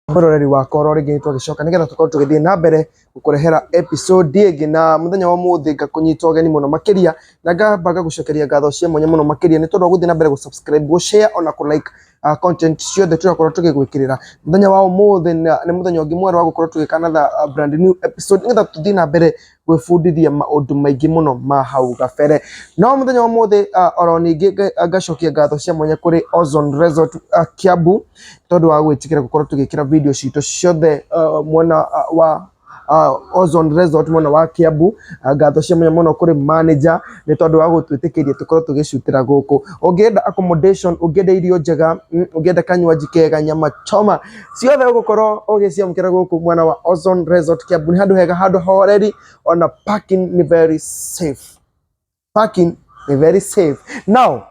mwĩroreri wakwa oro rĩngĩ nĩtwagĩcoka nĩgetha tũkorwo tũgĩthiĩ na mbere gũkũrehera episode ĩngĩ na mũthenya wa ũmũthĩ ngakũnyita ũgeni mũno makĩria na ngamba ngagũcokeria ngatho cia mwanya mũno makĩria nĩ tondũ wa gũthiĩ na mbere gũ-subscribe, gũ-share ona kũ-like uh, content ciothe tũrakorwo tũgĩgwĩkĩrĩra mũthenya wa ũmũthĩ na- nĩ mũthenya ũngĩ mwerũ wa gũkorwo tũgĩkanatha uh, brand new episode nĩgetha tũthiĩ na mbere gwĩbundithia maũndũ maingĩ mũno ma hau gabere no mũthenya wa mũthĩ uh, oro ningĩ nga- ngacokia ngatho cia mwanya kũrĩ Ozone Resort uh, Kiambu tondũ wa gwĩtĩkĩra gũkorwo tũgĩkĩra video citũ ciothe uh, mwena uh, wa uh, Ozone Resort mwena wa Kiambu uh, ngatho cia mwanya mũno kũrĩ manager nĩ tondũ wa gũtwĩtĩkĩria tũkorwo tũgĩcutĩra gũkũ ũngĩenda accommodation ũngĩenda irio njega mm, ũngĩenda kanywaji kega nyama choma ciothe ũgũkorwo ũgĩciamũkĩra gũkũ mwena wa Ozone Resort Kiambu nĩ handũ hega handũ horeri ona parking nĩ very safe parking nĩ very safe now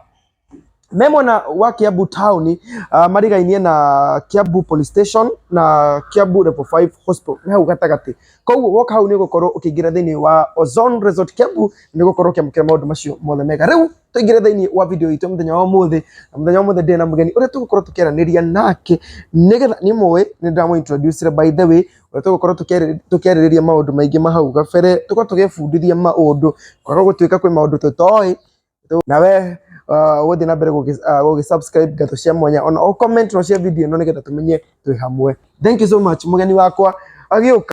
me mwena wa Kiambu town uh, marigainie na Kiambu police station na Kiambu level 5 hospital nĩ hau gatagatĩ koguo woka hau nĩ ũgũkorwo ũkĩingĩra thĩinĩ wa Ozone Resort Kiambu nĩ ũgũkorwo ũkĩamũkĩra maũndũ macio mothe mega rĩu tũingĩre thĩinĩ wa video itũ mũthenya wa ũmũthĩ na mũthenya wa ũmũthĩ ndĩ na mũgeni ũrĩa tũgũkorwo tũkĩaranĩria nake nĩgetha nĩ mũĩ nĩ ndamũ introduce by the way ũrĩa tũgũkorwo tũkĩarĩ- tũkĩarĩrĩria maũndũ maingĩ ma hau gabere tũkorwo tũgĩbundithia maũndũ kwaga gũtuĩka kwĩ maũndũ tũtoĩ na we uh, gũthiĩ na mbere gũgĩ- ah, gũgĩsubscribe ngatho cia mwanya ona o comment no cia video ĩno nĩgetha tũmenye twĩ hamwe thank you so much mũgeni wakwa agĩũka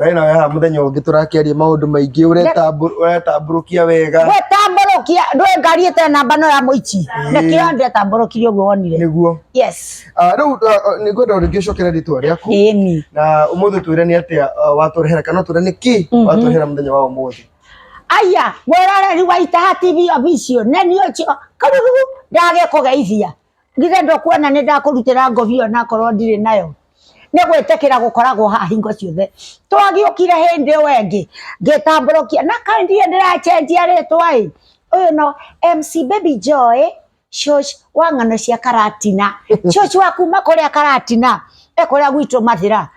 Ngai nawe haha muthenya ungi turakiaria maundu maingi uretambũrũkia wega gwĩtambũrũkia ndwĩ ngari ĩte namba no ya mũici nĩkĩo ndĩretambũrũkirie ũguo wonire nĩguo yes Ah, rĩu ah, nĩ ngwenda rĩngĩ ũcokere rĩtwa rĩaku ĩni na ũmũthĩ twĩre nĩ atĩa ah, watũrehera kana twĩre nĩ kĩ watũrehera mũthenya wa ũmũthĩ aya mwĩroreri wa itaha tv official nĩ niĩ ũcio karurugu ndage kũgeithia githĩ ndokuona nĩ ndakũrutĩra ngobia onakorwo ndirĩ nayo nĩ gwĩtĩkĩra gũkoragwo haha hingo ciothe twagĩũkire hĩndĩ ĩyo ĩngĩ ngĩtambũrũkia na kaĩ ndirĩ ndĩracenjia rĩtwa ĩ ũyũ no MC Baby Joy shosh wa ng'ano cia karatina shosh wa kuma kũrĩa karatina e kũrĩa gwitũ mathĩra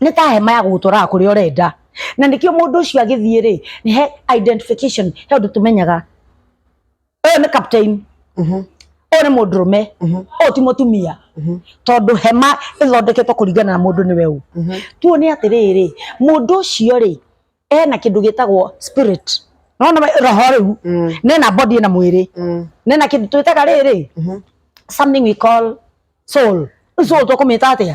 nĩ ta hema ya gũgũtwaraga kũrĩa ũrenda na nĩkĩo mũndũ ũcio agĩthiĩ rĩ nĩ he identification he ũndũ tũmenyaga ũyũ nĩ captain ũyũ nĩ mũndũrũme ũyũ ti mũtumia tondũ hema ĩthondeketwo kũringana na mũndũ nĩwe ũ tuone atĩrĩrĩ mũndũ ũcio rĩ ena kĩndũ gĩtagwo spirit nona roho rĩu nena body na mwĩrĩ nena kĩndũ twĩtaga rĩrĩ something we call soul Rĩu soul tũkũmĩta atĩa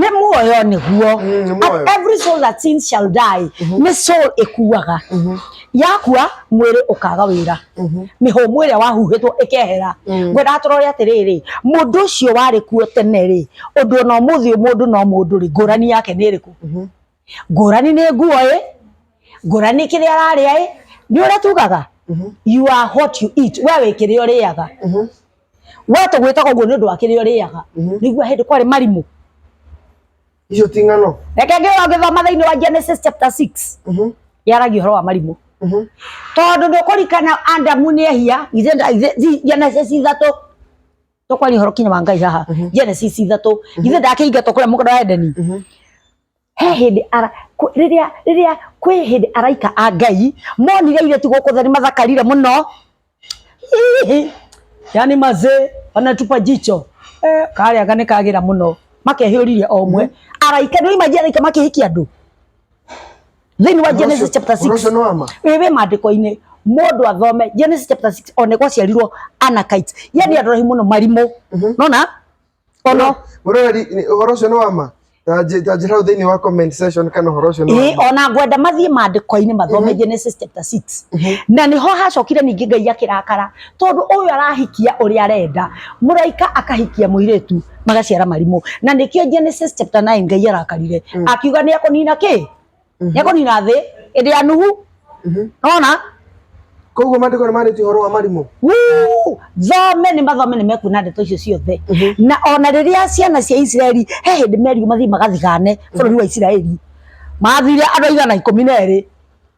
ne muoyo nĩguo Mm, nĩ muoyo. And every soul that sins shall die nĩ soul ĩkuaga yakua mwĩrĩ ũkaga wĩra mĩhũmũ ĩrĩa wahuhĩtwo ĩkehera ngwendaga tũrore atĩrĩrĩ mũndũ ũcio warĩ kuo tene rĩ ũndũ ona ũmũthĩ mũndũ no mũndũ rĩ ngũrani yake nĩ ĩrĩkũ ngũrani nĩ nguo ĩ ngũrani kĩrĩa ararĩa ĩ nĩ ũrĩa tugaga Mhm. you are what you eat we wĩ kĩrĩa ũrĩaga Mhm. we tũgwĩtaga ũguo nĩ ũndũ wa kĩrĩa ũrĩaga Mhm. nĩguo hĩndĩ kwarĩ marimũ Icio ti ng'ano. reke ngĩra ngĩthoma thĩinĩ wa Genesis chapter 6 Mhm. yaragia ũhoro wa marimũ Mhm. tondũ nĩ ũkũrikana Adamu nĩ ehia ithe ithe- Genesis ithatũ to kwari horo kinya wa ngai haha Mhm. genesis ithatu ithe ndakĩingatwo kũrĩa mũgũnda wa edeni Mhm. he hĩndĩ ara kũ- rĩrĩa rĩrĩa kwĩ hĩndĩ araika a ngai monire irĩtu gũkũ thani mathakarire mũno Hihi. yani mazee wanatupa jicho eh, karĩa ga nĩkagira mũno makehĩũririe o ũmwe araika nĩoimagia araika makĩhikia andũ thĩinĩ wa Genesis chapter 6 ũcio nĩ wama wĩ wĩ maandĩko-inĩ mũndũ athome Genesis chapter 6 one gwaciarirwo Anakites yani andũ rahi mũno marimũ nona ono mũroreri nĩ- ũhoro ũcio nĩ wama Ta nje- ta njĩra hau thĩinĩ wa comment section kana ũhoro ũcio nĩ Ĩĩ, wama ona ngwenda mathiĩ maandĩko-inĩ mathome Genesis chapter 6 na nĩho hacokire ningĩ ngai akĩrakara tondũ ũyũ arahikia ũrĩa arenda mũraika akahikia mũirĩtu magaciara marimũ na nĩkĩo Genesis chapter 9 Ngai arakarire mm. akiuga nĩ akonina kĩ mm -hmm. nĩ akonina thĩ ĩndĩ ya Nuhu mm -hmm. nona koguo mandĩko nĩ marĩtie ũhoro wa marimũ thome nĩ mathome nĩ mekuona ndeto icio ciothe mhm. na ona rĩrĩa ciana cia Isiraeli he hĩndĩ merigo mathiĩ magathigane bũrũri wa Isiraeli mathire andũ aigana ikũmi na erĩ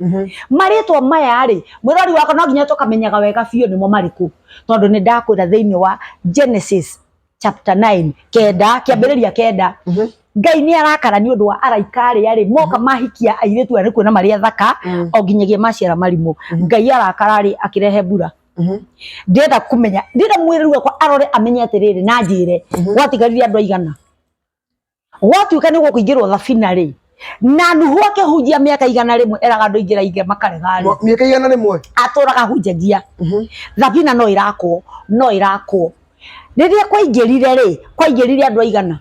Mhm. marĩtwa maya rĩ mwĩrori wakwa no nginya tũkamenyaga wega biũ nĩmo marĩkũ tondũ nĩ ndakwĩra thĩinĩ wa genesis chapter 9 kenda kĩambĩrĩria kenda Mhm. ngai nĩ arakara nĩ ũndũ wa araika arĩa rĩ moka mahikia airĩtu arĩa kuona marĩ athaka Mm. o nginyagia maciara marimũ ngai arakara rĩ akĩrehe mbura Mhm. ndĩrenda kũmenya ndĩrenda mwĩrĩru wakwa arore amenye atĩrĩrĩ na njĩre gwatigarire andũ aigana gwatuĩka nĩ gũkũingĩrwo thabina rĩ na nuhu akĩhunjia mĩaka igana rĩmwe eraga andũ ingĩra inge makarega rĩ Mwa- mĩaka igana rĩmwe atũraga hunjagia Mhm. thabina no ĩrakwo no ĩrakwo rĩrĩa kwaingĩrire rĩ kwaingĩrire andũ aigana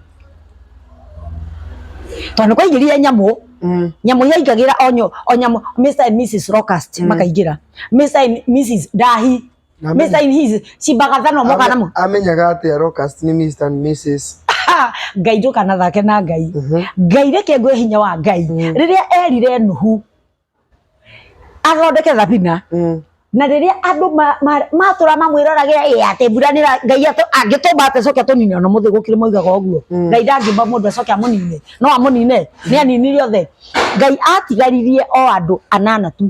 tondũ kwaingĩrire nyamũ Mm. nyamũ yaingagĩra onyo onyamũ Mr and Mrs Locust makaingĩra Mr and Mrs Dahi Amen. mesa in his cibagathano Ame- mokanamo amenyaga atä arocast nä Mr. and Mrs. ngai njũkana thake na ngai Mhm. ngai reke ngwe hinya wa ngai Mm. rĩrĩa erire nuhu athondeke thabina Mm. na rĩrĩa andũ ma- ma- matũra mamwĩrorage ĩ atĩ mbura nĩ ra- ngai atũ- angĩtũmba atĩ coke atũnine ona mũthĩ gũkĩrĩ moigaga ũguo Mm. ngai ndangĩmba mũndũ acoke amũnine no amũnine nĩ aninirie othe ngai atigaririe o andũ anana tu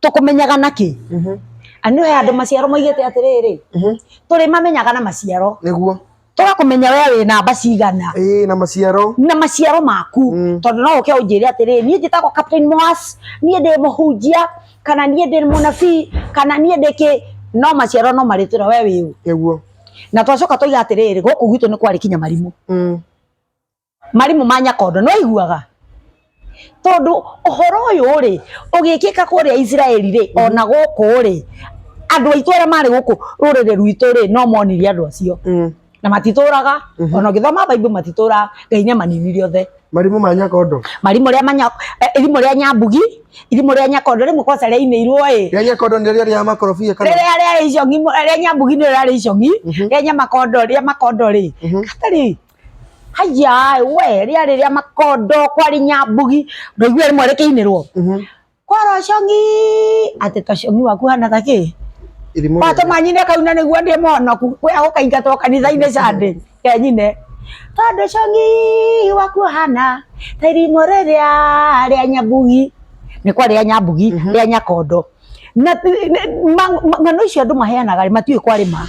tũkũmenyaga na kĩ Mhm. anio he andũ maciaro moigĩte atĩrĩrĩ Mhm. tũrĩ mamenyaga na maciaro nĩguo tũgakũmenya we wĩ namba cigana ĩĩ na maciaro na maciaro maku Mm. tondũ no ũke ũnjĩre atĩrĩrĩ niĩ njĩtagwo captain moas niĩ ndĩ mũhunjia kana niĩ ndĩ mũnabii kana niĩ ndĩ kĩ no maciaro no marĩtwĩra we wĩ ũ nĩguo na twacoka tũiga atĩrĩrĩ gũkũ gwitũ nĩ kwarĩ kinya marimũ Mm. marimũ ma nyakondo nĩ waiguaga tondũ ũhoro ũyũ rĩ ũgĩkĩka kũrĩa Isiraeli rĩ ona gũkũ rĩ andũ aitũ arĩa marĩ gũkũ rũrĩrĩ rwitũ rĩ no monire andũ acio Mm. na matitũraga ona ũngĩthoma baibu matitũraga ngai nĩ amaninire othe marimũ ma nyakondo marimũ rĩa manya eh, irimũ rĩa nyambugi irimũ rĩa nyakondo rĩmwe kwaca rĩainĩirwo ĩ rĩa nyakondo nĩ rĩrĩa rĩa makorobia kana rĩrĩa rĩa icong'i rĩa nyambugi nĩ rĩa icong'i rĩa nyamakondo rĩa makondo rĩ gatarĩ haya we ria riria makondo kwari nyambugi ndoigua rimwe rikiinirwo kwara congi ati ta congi waku hana ta ki Irimũ wato rĩrĩ. manyine kauna niguo ndi monoku we agukaingatwo kanitha-inĩ cande kenyine tondu congi waku hana ta irimo riria ria nyambugi nä kwa rä a nyambugi rä a nyakondo na ng'ano icio andå maheanaga matiå kwä kwarä ma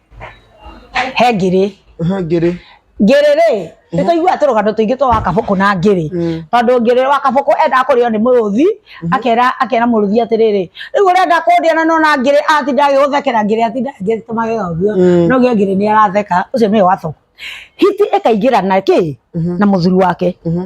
he ngĩrĩ Ehe, ngĩrĩ ngĩrĩ rĩ nĩ tũiguaga tũrũgano tũingĩ twa wa kabũkũ na ngĩrĩ Mm. tondũ ngĩrĩ wa kabũkũ endaga kũrĩo nĩ mũrũthi akera akera mũrũthi atĩrĩrĩ rĩu ũrenda kũndĩa na nona ngĩrĩ atinda agĩgũthekera ngĩrĩ atinda agĩtũma wega ũguo Mm. no gĩa ngĩrĩ nĩ aratheka ũcio nĩwe wa kabũkũ hiti ĩkaingĩra na kĩ na mũthuri wake Mhm.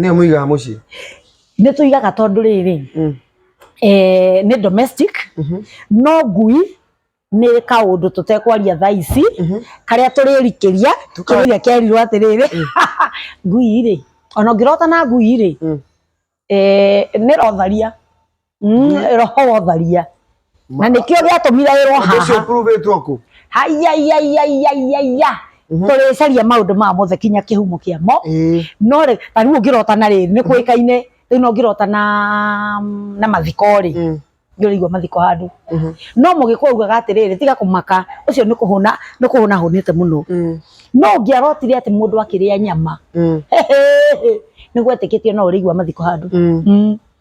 Nĩ mũigaga mũciĩ? Nĩ tũigaga tondũ rĩrĩ, mm. eh, nĩ domestic, mhm. no ngui nĩ kaũndũ tũtekwaria thaa ici, mhm. karĩa tũrĩrikĩria, kĩrĩa kerirwo atĩrĩrĩ, mm. ngui rĩ, ona ũngĩrota na ngui rĩ, mm. eh, nĩ rotharia. Mm, roho tharia na nikio giatumire wirwo Ũndũ ũcio haha ũkuruvĩtwo kũ haiyaiyaiyaiyaiyaiya Mhm. turicaria maundu ma mothe kinya kihumo kiamo Ĩĩ. no rĩ ta riu ngirota na rĩrĩ nĩ kũĩkaine rĩu no ngirota na na mathiko rĩ Mm. ngĩrĩigua mathiko handũ Mhm. no mũgĩkwa ugaga atĩrĩrĩ tiga kũmaka ũcio nĩ kũhũna nĩ kũhũna hũnĩte mũno Mm. no ngĩarotire atĩ mũndũ akĩrĩa nyama Mm. nĩ gwetĩkĩtio no ũrĩigua mathiko handũ Mm. Mm.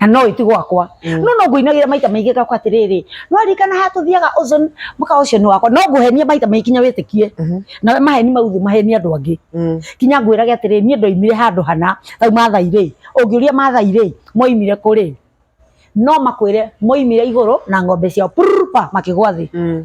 na no itu gwakwa Mm. no no nguinagira maita maingi gakwa atiriri no arikana ha tuthiaga ozone muka ucio ni wakwa no nguhenie maita maingi kinya witikie Mhm. na we maheni mauthu maheni andu angi Mm. kinya ngwirage atiriri nie ndoimire handu hana tau mathai ri ungiuria mathai ri moimire kuri no makwire moimire iguru na ng'ombe ciao purpa makigwa thi Mm.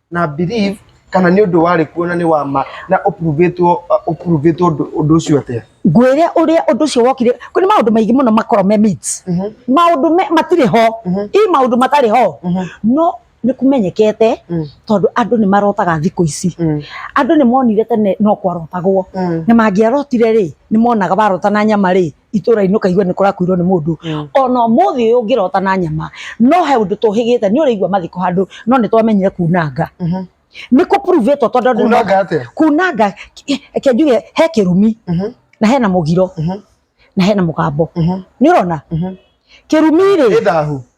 na believe kana nĩ ũndũ warĩ kuo na nĩ wa ma na ũpuruvĩtwo ũpuruvĩtwo ũndũ ũndũ ũcio atĩa ngwĩre ũrĩa ũndũ ũcio wokire kwĩ nĩ maũndũ maingĩ mũno makorwo me myths. maũndũ me- matirĩ ho i maũndũ matarĩ ho no nĩ kũmenyekete Mm. tondũ andũ nĩ marotaga thikũ ici Mm. andũ nĩ monire tene no kwarotagwo Mm. na mangĩarotire rĩ nĩ monaga warota na nyama rĩ itũra-inĩ ũkaigua nĩ kũrakuirwo nĩ mũndũ Mm. ona ũmũthĩ ũyũ ũngĩrota na nyama no he ũndũ tũhĩgĩte nĩ ũrĩigua mathiko handũ no nĩ twamenyire kunanga Mhm. nĩ kũpuruvĩtwo tondũ andũ nĩ Kunanga moka- atĩa? kunanga reke njuge he kĩrumi Mhm. na hena mũgiro Mhm. na hena mũgambo Mhm. nĩ ũrona Mhm. kĩrumi rĩ Nĩ thahu.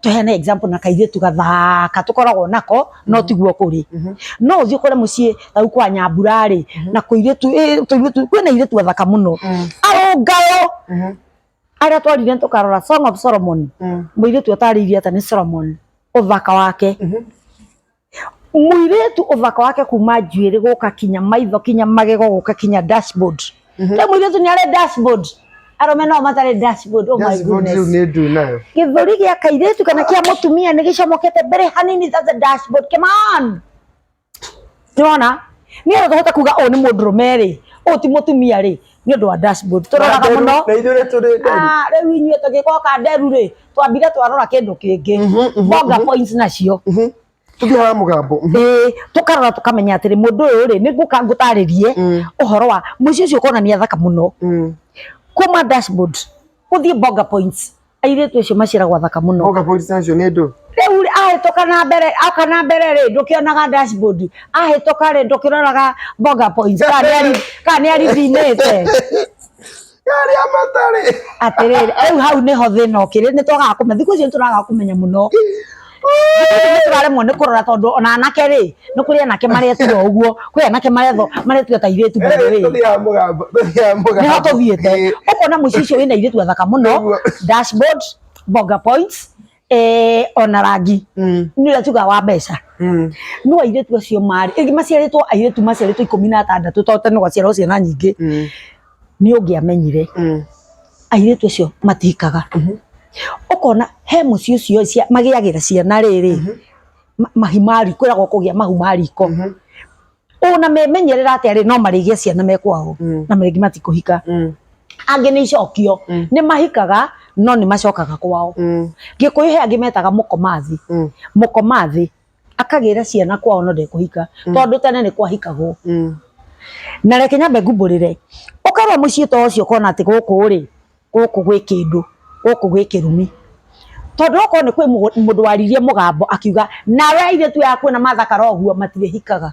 tuheane example na kairĩtu gathaka tũkoragwo nako no tiguo kũrĩ no ũthiĩ ũkore mũciĩ tau kwa nyambura rĩ na kũirĩtu ĩ, tũirĩtu kwĩna airĩtu athaka mũno arũngayo arĩa twarire tũkarora song of solomon mũirĩtu atarĩirie atĩ nĩ solomon ũthaka wake mũirĩtu ũthaka wake kuma njuĩrĩ gũka kinya maitho kinya magego gũka kinya dashboard rĩu mũirĩtu nĩ arĩ dashboard arũme nao matarĩ dashboard oh my Dashboard rĩu goodness nĩ ndui nayo gĩthũri gĩa kairĩtu kana kĩa mũtumia nĩ gĩcomokete mbere hanini that's a dashboard come on nĩwona nĩgetha tũhote kuga ũyũ nĩ mũndũrũme rĩ ũyũ ti mũtumia rĩ nĩ ũndũ wa dashboard tũroraga mũno na ithuĩ nĩ tũrĩ nderu Ah, rĩu inyuĩ tũgĩkoo ka nderu rĩ twambire twarora kĩndũ kĩngĩ bonga points nacio Mhm. tũthiĩ haha mũgambo Mhm. Ĩĩ, tũkarora tũkamenya atĩrĩ mũndũ ũyũ rĩ nĩngũka ngũtarĩrie ũhoro wa mũici ũcio ũkonania thaka mũno Mm. kuma dashboard ũthiĩ bonga points airĩtu acio maciaragwo athaka mũno Oka police station nĩ ndũ. rĩu rĩ, ahĩtũka na mbere oka na mbere rĩ ndũkĩonaga dashboard ahĩtũka rĩ ndũkĩroraga boga points kana nĩ ari- kana nĩ arithinĩte Yarĩ a matarĩ. atĩrĩrĩ rĩu hau nĩho thĩna ũkĩrĩ nĩ twagaga kũmenya thikũ icio nĩ tũragaga kũmenya mũno tũraremwo nĩ kũrora tondũ ona anake rĩ nĩ kũrĩ anake maretua ũguo kwĩ anake maretho maretua ta irĩtu mũno rĩ Tũthiaga mũgambo, tũthiaga mũgambo. nĩho tũthiĩte Eh, ũkona mũici ũcio wĩna irĩtu athaka mũno Nĩguo. dashboard bonga points eh, ona rangi mm, nĩ ũrĩa tugaga wa mbeca mm. no airĩtu acio marĩ ĩngĩ maciarĩtwo airĩtu maciarĩtwo ikũmi na atandatũ to tene gwaciarwo ciana nyingĩ Mm. nĩ ũngĩamenyire airĩtu acio matikaga ũkona he mũciĩ ũcio ĩ, cia- magĩagĩra ciana rĩrĩ ma- mahi ma riko kwĩragwo kũgĩa mahu ma riko ona memenyerera atĩa rĩ no marĩgĩa ciana me kwao Mm. na rĩngĩ matikũhika angĩ nĩ icokio Mm. nĩ mahikaga no nĩ macokaga kwao gĩkũyũ he angĩ metaga mũkomathi mũkomathi akagĩra ciana kwao no ndekũhika Mm. tondũ tene nĩ kwahikagwo Mm. na reke nyambe ngumbũrĩre ũkarwa mũciĩ ta ũcio ũkona atĩ gũkũ rĩ gũkũ gwĩ kĩndũ gũkũ gwĩ kĩrumi tondũ okorwo nĩ kwĩ mũgũ- mũndũ waririe mũgambo akiuga nawe airĩtu aya kuona mathakara ũguo matirĩhikaga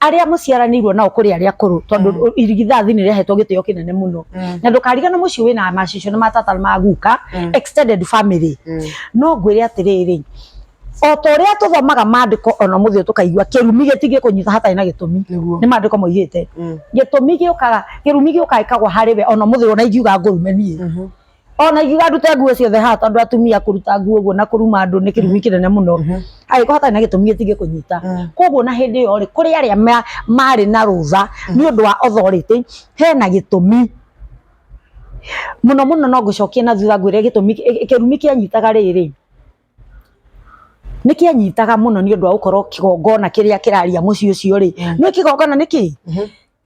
arĩa mũciaranĩirwo nao kũrĩ arĩa akũrũ tondũ mm. irigithathi nĩ rĩahetwo gĩtĩo kĩnene mũno mm. na ndũkarigane mũciĩ wĩna macicio na matata na maguka mm. extended family mm. no ngwĩre atĩrĩrĩ o ta ũrĩa tũthomaga maandĩko ona mũthĩ tũkaigua kĩrumi gĩtigĩ kũnyita hatarĩ na gĩtũmi nĩ maandĩko moigĩte mm. gĩtũmi gĩũkaga kĩrumi gĩũkaga ĩkagwa harĩ we ona mũthĩ ona ingiuga ngũrume niĩ mm-hmm. ona ingiuga ndute nguo ciothe haha tondũ atumia kũruta nguo ũguo na kũruma andũ nĩ kĩrumi kĩnene mũno angĩkorwo hatarĩ na gĩtũmi gĩtingĩkũnyita Mm. koguo na hĩndĩ ĩyo rĩ kũrĩ arĩa ma- marĩ na rũtha nĩ ũndũ wa authority hena gĩtũmi mũno mũno no ngũcokie na thutha ngwĩre gĩtũmi kĩ- kĩrumi kĩanyitaga rĩrĩ nĩ kĩanyitaga mũno nĩ ũndũ wa gũkorwo kĩgongona kĩrĩa kĩraria mũciĩ ũcio rĩ nĩ kĩgongona nĩkĩ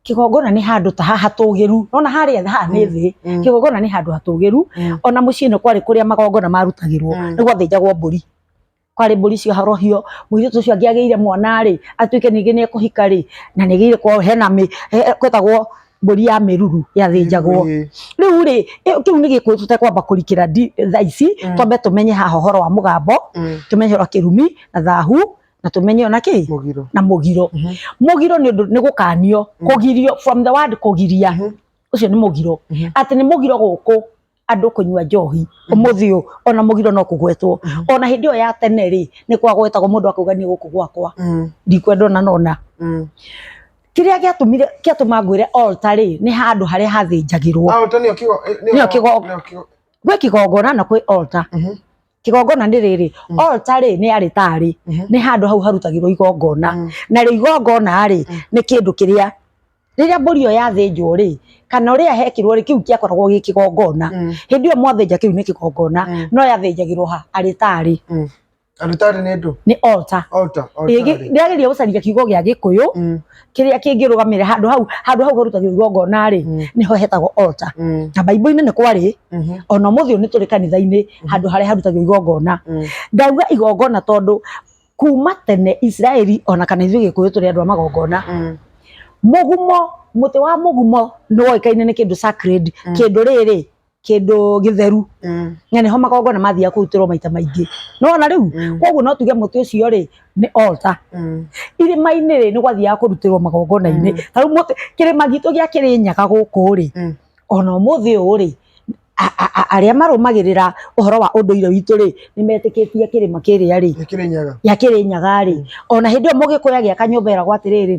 kĩgongona nĩ handũ ta haha hatũgĩru nona harĩa thĩ haha nĩ Mm. thĩ Mm. kĩgongona nĩ handũ hatũgĩru Mm. ona mũciĩ ĩno kwarĩ kũrĩa magongona marutagĩrwo Mm. nĩ gwathĩnjagwo mbũri kwarĩ mbũri cia horohio mũirĩtu ũcio angĩ agĩire mwana rĩ atuĩke ningĩ nĩ ekũhika rĩ na nĩ agĩire kwa hena mĩ he- he- kwetagwo mbũri ya mĩruru yathĩnjagwo Ĩĩ. rĩu rĩ ĩ- kĩu nĩ gĩkũyũ tũtekwamba kũrikĩra ndi- thaa ici Mm. twambe tũmenye haha ũhoro wa mũgambo Mm. tũmenye ũhoro wa kĩrumi na thahu na tũmenye ona kĩ Mũgiro. na mũgiro Mhm. mũgiro nĩ ũndũ nĩ gũkanio Mm. kũgirio from the word kũgiria Mhm. ũcio nĩ mũgiro Mhm. atĩ nĩ mũgiro gũkũ andũ kũnyua njohi ũmũthĩ ũyũ ona mũgiro no kũgwetwo Mhm. ona hĩndĩ ĩyo ya tene rĩ nĩ kwagwetagwo mũndũ akauga niĩ gũkũ gwakwa Mm, ndikwenda ona nona mm. kĩrĩa gĩatũmire kĩatũma ngwĩre altar rĩ nĩ handũ harĩa hathĩnjagĩrwo Ah, ũta nĩyo kigo- eh, Nĩyo kigo- nĩyo kigo- gwĩ kĩgongona na kwĩ altar Mhm. kĩgongona nĩ rĩrĩ Mm. altar rĩ nĩ arĩtarĩ Mhm. nĩ handũ hau harutagĩrwo igongona Mm. narĩo igongona rĩ Mm. nĩ kĩndũ kĩrĩa rĩrĩa mbũri ĩyo yathĩnjwo rĩ kana ũrĩa hekirwo rĩ kĩu kĩakoragwo gĩ kĩgongona Mm. hĩndĩ ĩyo mwathĩnja kĩu nĩ kĩgongona Mm. no yathĩnjagĩrwo ha arĩtarĩ Mm. Arutari nĩ ndũ. nĩ altar Altar. Altar. rĩagĩrĩire gũcaria kiugo gĩa gĩkũyũ Mm. kĩrĩa kĩngĩrũgamĩrĩra handũ hau handũ hau harutagĩrwo igongona rĩ Mm. nĩho hetagwo altar Mm. na baibũ-inĩ nĩ kwarĩ Mhm. ona mũthĩ ũyũ nĩ tũrĩ kanitha-inĩ handũ harĩa harutagwo igongona Mm. ndauga igongona tondũ kuma tene isiraeli ona kana ithuĩ gĩkũyũ tũrĩ andũ a magongona Mm. mũgumo mũtĩ wa mũgumo nĩ woĩkaine nĩ kĩndũ sacred kĩndũ rĩrĩ kĩndũ gĩtheru Mm. na nĩho magongona mathiaga kũrutĩrwo maita maingĩ nona rĩu Mm. koguo no tuge mũtĩ ũcio rĩ nĩ altar Mm. irĩma-inĩ rĩ nĩ gwathiaga kũrutĩrwo magongona-inĩ Mm. tarĩu mũtĩ kĩrĩma gitũ gĩa kĩrĩnyaga gũkũ rĩ Mm. ona ũmũthĩ ũũ rĩ a- a- a- arĩa marũmagĩrĩra ũhoro wa ũndũire witũ rĩ nĩ metĩkĩtie kĩrĩma kĩrĩa rĩ Nĩ kĩrĩnyaga. gĩa kĩrĩnyaga rĩ ona hĩndĩ ĩyo mũgĩkũyũ agĩaka nyũmba ĩragwo atĩrĩrĩ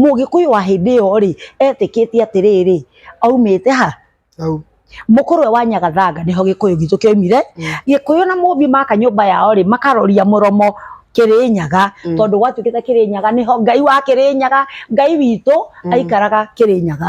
Mũgĩkũyũ wa hĩndĩ ĩyo rĩ, etĩkĩtie atĩrĩrĩ, aumĩte ha? Hau. Mũkũrũwe wa Nyagathanga nĩho Gĩkũyũ gitũ kĩaumire. Gĩkũyũ na Mũmbi maka nyũmba yao rĩ, makaroria mũromo Kĩrĩnyaga, tondũ gwatuĩkĩte Kĩrĩnyaga nĩho Ngai wa Kĩrĩnyaga, Ngai witũ aikaraga Kĩrĩnyaga.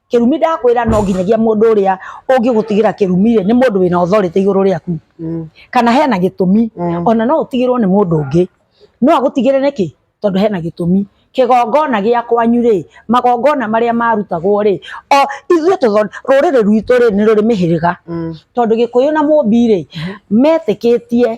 kĩrumi ndakwĩra no nginyagia mũndũ ũrĩa ũngĩgũtigĩra kĩrumi rĩ nĩ mũndũ wĩna authority igũrũ rĩaku Mm. kana hena gĩtũmi Mm. ona no ũtigĩrwo nĩ mũndũ ũngĩ no agũtigĩre nĩkĩ tondũ hena gĩtũmi kĩgongona gĩa kwanyu rĩ magongona marĩa marutagwo rĩ o ithuĩ tũtho- rũrĩrĩ rwitũ rĩ nĩ rũrĩ mĩhĩrĩga Mm. tondũ gĩkũyũ na mũmbi rĩ metĩkĩtie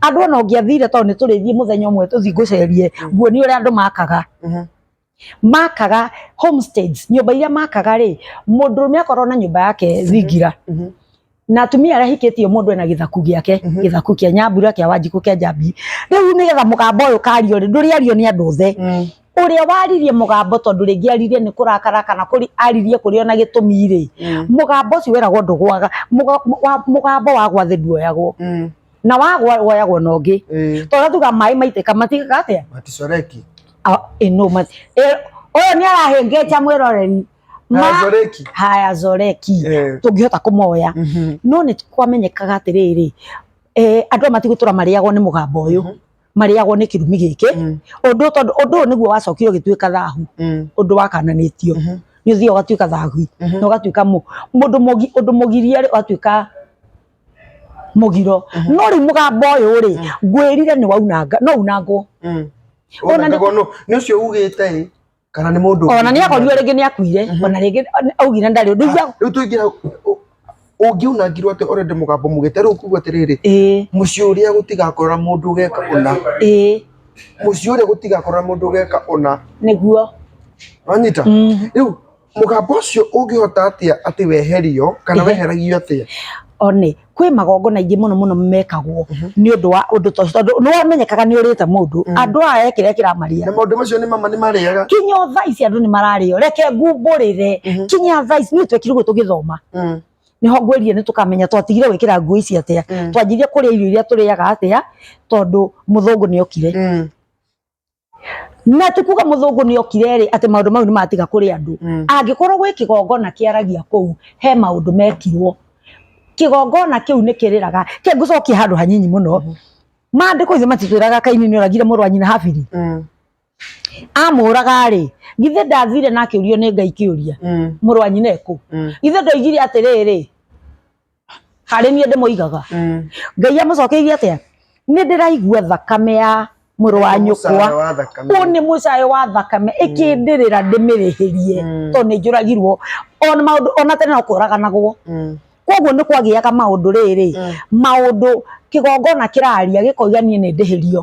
andũ ona ũngĩathire tondũ nĩ tũrĩthiĩ mũthenya ũmwe tũthiĩ ngũcerie nguonie ũrĩa andũ makaga Mhm. makaga homesteads nyũmba iria makaga rĩ mũndũrũme akorwo na nyũmba yake thingira Mhm. na atumia arĩa ahikĩtie mũndũ ena gĩthaku gĩake Mhm. gĩthaku kĩa nyambura kĩa wanjikũ kĩa njambi rĩu nĩgetha mũgamba ũyũ kario rĩ ndũrĩario nĩ andũ othe Mm. ũrĩa waririe mũgambo tondũ rĩngĩ aririe nĩ kũrakara kana kũri aririe kũrĩ ona gĩtũmi rĩ Mm. mũgambo ũcio weragwo ndũgwaga Mũga- wa- mũgambo wagwa thĩ nduoyagwo Mm. na wagwa woyagwo na ũngĩ Eh, tondũ tuga maĩ maitĩka matigaga atĩa maticoreki Ah, eh, no, ma- eh, ũyũ nĩ arahĩngĩca mwĩroreri Ma- Hayacoreki. haya zoreki Eh. tũngĩhota kũmoya Mhm. no nĩ kwamenyekaga atĩrĩrĩ eh, andũ aya matigũtũra marĩagwo nĩ mũgamba ũyũ marĩagwo nĩ kĩrumi gĩkĩ Mm. ũndũ tondũ ũndũ ũyũ nĩguo wacokire ũgĩtuĩka thahu Mm. ũndũ wakananĩtio Mhm. nĩ ũthiaga ũgatuĩka thahu Mhm. na ũgatuĩka mũ- mũndũ mũgi- ũndũ mũgiria rĩ ũgatuĩka mugiro Mhm. no riu mugambo uyu ri Mm. ngwirire ni waunanga no unangwo Mm. Ona Ona nĩ- nĩguo nũ- nĩ ũcio ugĩte ĩ kana nĩ mũndũ ona ni akorirwo ringi ni akuire Mhm. ona ringi augire ndari undu igua rĩu tũingĩra ũngiunangirwo atĩ already mũgambo mugĩte rĩu kuga atĩrĩrĩ ĩĩ mũciĩ ũrĩa gũtigakorora mũndũ ũgeka ũna ĩĩ mũciĩ ũrĩa gũtigakorora mũndũ ũgeka ũna niguo wanyita rĩu mũgamba ũcio ũngĩhota atĩa atĩ weherio kana Ehe. weheragio atĩa one kwĩ magongona ingĩ mũno mũno mekagwo Mhm. nĩ ũndũ wa ũndũ ta ũcio tondũ nĩ wamenyekaga nĩ ũrĩte mũndũ Mm. andũ aya kĩrĩa kĩramaria na maũndũ macio nĩ mama nĩ marĩaga kinya thaa ici andũ nĩ mararĩo reke ngumbũrĩre Mhm. kinya thaa ici nĩ twekire ũguo tũgĩthoma Mm, nĩho ngwĩrire nĩ tũkamenya twatigire gwĩkĩra nguo ici atĩa mm, twanjirie kũrĩa irio iria tũrĩaga atĩa tondũ mũthũngũ nĩ okire mm. na ti kuga mũthũngũ nĩ okire rĩ atĩ maũndũ mau nĩ matiga kũrĩ andũ Mm. angĩkorwo gwĩ kĩgongona kĩaragia kũu he maũndũ mekirwo kĩgongona kĩu nĩ kĩrĩraga ke ngũcokie handũ hanyinyi mũno maandĩko ithe matitwĩraga kaini nĩ oragire mũrũ wa nyina habiri Mm. amũraga rĩ githĩ ndathire na akĩũrio nĩ ngai kĩũria Mm. mũrũ wa nyina ekũ Mm. ithe ndoigire atĩrĩrĩ harĩ niĩ ndĩmũigaga Mm. ngai amũcokeirie atĩa nĩ ndĩraigua thakame ya mũrũ wa nyũkwa Mũcara wa thakame. ũyũ nĩ mũcayo wa thakame ĩkĩndĩrĩra ndĩmĩrĩhĩrie Mm. tondũ nĩ njũragirwo ona maũndũ ona tene no kũraganagwo Mm. koguo nĩ kwagĩaga maũndũ rĩrĩ maũndũ kĩgongona kĩraria gĩkoiga niĩ nĩ ndĩhĩrio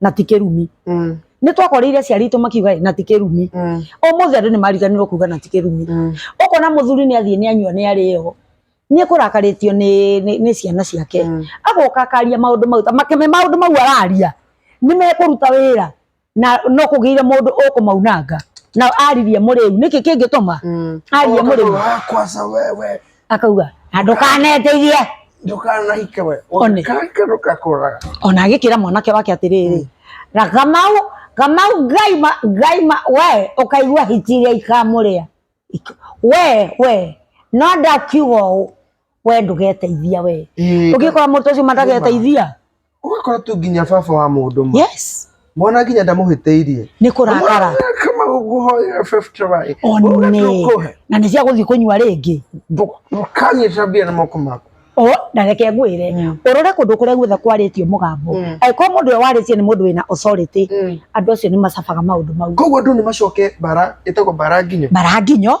na ti kĩrumi Mm. nĩ twakoreire aciari aitũ makiuga "Ĩ, na ti kĩrumi Mm. ũmũthĩ andũ nĩ mariganirwo kuga na ti kĩrumi Mm. ũkona mũthuri nĩ athiĩ nĩ anyua nĩ arĩo nĩ kũrakarĩtio nĩ, nĩ, nĩ ciana ciake Mm. agoka akaria maũndũ mau ta makeme maũndũ mau araria nĩ mekũruta wĩra na no kũgĩire mũndũ ũkũmaunanga na aririe mũrĩu nĩkĩ kĩngĩtuma Mm. arie Oka mũrĩu tu, "Ah, kwanza wewe akauga na ndũkaneteithie ndũkanahike we One. kanke ndũkakũraga ona agĩkĩra mwanake wake atĩrĩrĩ na kamau kamau ngai ma ngai ma we ũkaigua hiti iria ikamũrĩa Ik- we we no ndakiuga ũũ we ndũgeteithia we Ĩĩ. ũngĩkora mũndũ ũcio matageteithia ũgakora tu nginya baba wa mũndũ ma yes mwana nginya ndamũhĩtĩirie nĩ kũrakara kama ũguhoya 50 waĩ one na nĩ cia gũthiĩ kũnyua rĩngĩ ndũkanyita mbia na moko maku o na reke ngwĩre Mm. ũrore kũndũ kũrĩa guothe kwarĩtio mũgambo Mm. angĩkorwo mũndũ ũyũ warĩtie nĩ mũndũ wĩna authority Mm. andũ acio nĩ macabaga maũndũ mau koguo andũ nĩ macoke bara ĩtagwo bara nginyo mbaranginyo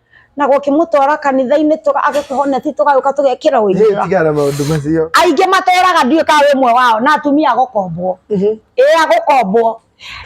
na gũkĩmũtwara kanitha-inĩ tũga- agĩkĩhoneti tũgagĩũka tũgekĩra ũinjĩra tigana maũndũ macio aingĩ matũraga ndiũĩ kana wĩ mwe wao na atumia agũkombwo ĩ agũkombwo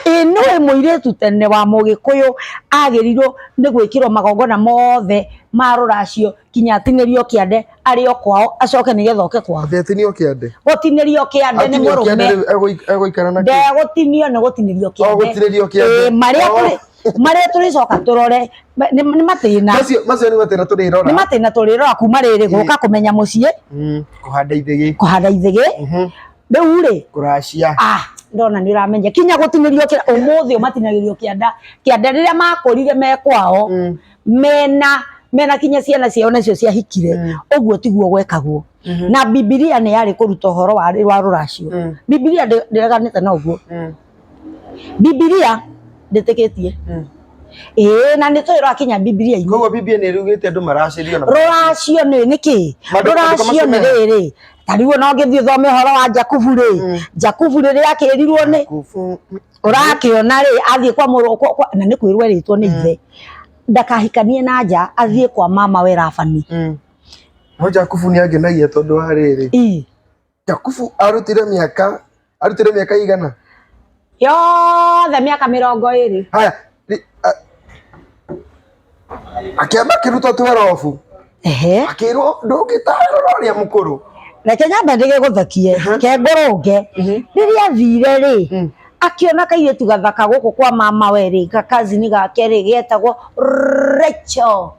ĩ nĩwe mũirĩtu tene wa mũgĩkũyũ agĩrirwo nĩ gwĩkĩrwo magongona mothe ma rũracio kinya atinĩrio kĩande arĩ o kwao acoke nĩgetha oke kwao atetinio kĩande gũtinĩrio kĩande nĩ Atinio kĩande mũrũme rĩu egũik- egũikara na kĩ? ndegũtinio nĩ gũtinĩrio Ogũtinĩrio kĩande. Ĩ, marĩa Oh. tũrĩ- marĩa tũrĩcoka tũrore ma- nĩ nĩ matĩna macio macio nĩ matĩna tũrĩrora nĩ matĩna tũrĩrora kuma rĩrĩ gũka kũmenya mũciĩ Mm, kũhanda ithĩgĩ kũhanda ithĩgĩ Mhm, rĩu rĩ kũracia ah ndona nĩ ũramenya kinya gũtinĩrio kĩra ũmũthĩ ũmatinagĩrio kĩanda kĩanda rĩrĩa makũrire me kwao Mm. mena mena kinya ciana ciao nacio ciahikire Mm. ũguo tiguo gwekagwo na bibilia nĩ yarĩ kũruta ũhoro wa wa rũracio Mm. bibilia ndĩreganĩte na ũguo Mm. bibilia ndĩtĩkĩtie Mm. ĩĩ na nĩ tũĩ rwakinya bibilia-inĩ koguo bibia nä rugä te andå maracirio na rũracio nĩ nĩ kĩ Maandĩko- rũracio maandĩko nĩ macio rĩrĩ ta rĩu ona ũngĩthiĩ thome ũhoro wa jakubu rĩ jakubu rĩrĩa akĩrirwo nĩ Kubu. ũrakĩona rĩ athiĩ kwa mũrũ kwa- kwa- na nĩ kwĩrwo erĩtwo nĩ ithe ndakahikanie na nja athiĩ kwa mama we rabani Mm. no jakubu nä angenagia tondå wa rä rä Ii. Jakubu arutire miaka arutire miaka igana yothe miaka mirongo iri haya ri- a- akiamba akiruta twerobu ehe akirwo ndũngĩtarwo no ũrĩa mũkũrũ reke nyambe ndĩge gũthakie kengũrũnge rĩrĩa athire rĩ akiona kairĩtu gathaka gũkũ kwa mama we rĩ gakazini gake rĩ getagwo Rachel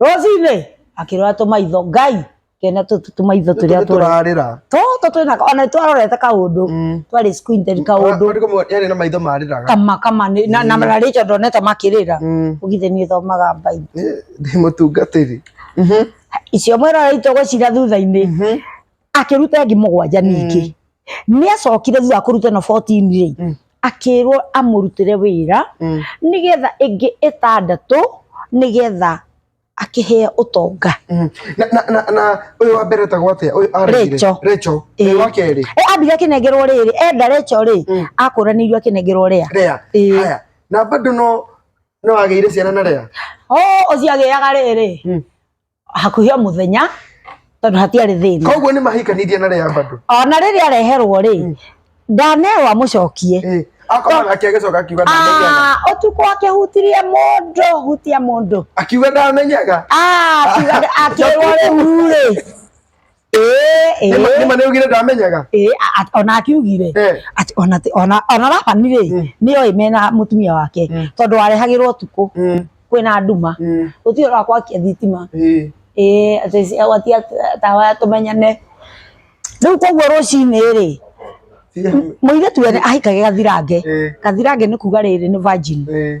rũcinĩ akĩrora tũmaitho ngai kena tũtũ tũmaitho tũrĩa tũrĩ tũrarĩra tũtũ twĩna ona twarorete kaũndũ Mm. twarĩ squinted kaũndũ Ona kũmwe yarĩ na maitho marĩraga kama kama nĩ- na na mararĩkia ndonete makĩrĩra Mm. ũgithe niĩ thomaga mbaitho Nĩ- ndĩ mũtungatĩri Mhm. icio mwĩrora itogocira thutha-inĩ Mhm. akĩruta ĩngĩ mũgwanja ningĩ nĩ acokire thutha wa kũruta ĩno 14 rĩ Mm. akĩrwo amũrutĩre wĩra Mm. nĩgetha ĩngĩ ĩtandatũ nĩgetha akĩheo ũtonga Mm. Na- na- na- na ũyũ wa mbere etagwo atĩa ũyũ aregire Rachel. Rachel. Ĩĩ. ũyũ wa kerĩ e ambire akĩnengerwo rĩrĩ enda reco rĩ Mm. akũranĩirio akĩnengerwo rĩa Lea. Ĩĩ. haya na bado no no agĩire ciana na Lea. o ũcio agĩaga rĩrĩ Mm. hakuhĩ o mũthenya tondũ hatiarĩ thĩna koguo nĩ mahikanirie na rĩa bado ona rĩrĩa areherwo rĩ ndanewa mũcokie Eh, akoma nake agĩcoka akiuga ndamenyaga Ah, ũtukũ akĩhutirie mũndũ hutia mũndũ akiuga ndamenyaga Ah, akiuga- akĩrwo rĩu rĩ Ĩĩ, Nĩma ĩĩ, nĩma nĩugire ndamenyaga. ĩĩ, a- a- ona akiugire Eh. ati ona ti- ona ona Labani rĩ Mm. nĩoĩ mena mũtumia wake Mm. tondũ warehagĩrwo ũtukũ Mm, kwĩna nduma mm, gũtirĩ ũra gwakia thitima eh. ĩĩ atĩ ci- gwatia ta- tawa ya tũmenyane rĩu koguo rũcinĩ rĩ Tiga- mũirĩtu wene ahikage gathirange Eh. gathirange nĩ kuga rĩrĩ nĩ virgin Eh,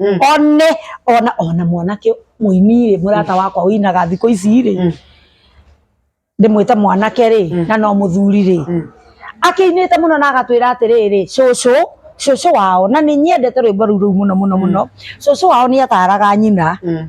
Mm. one ona ona mwanake muini rĩ murata wakwa winaga thikå ici rĩ Mm. ndimwite mwanake rĩ Mm. na no muthuri rĩ Mm. akiinite muno na agatwira atiriri cucu cucu wao na ni nyendete rwimbo ruu ruu muno muno muno cucu wao ni ataraga nyina Mm.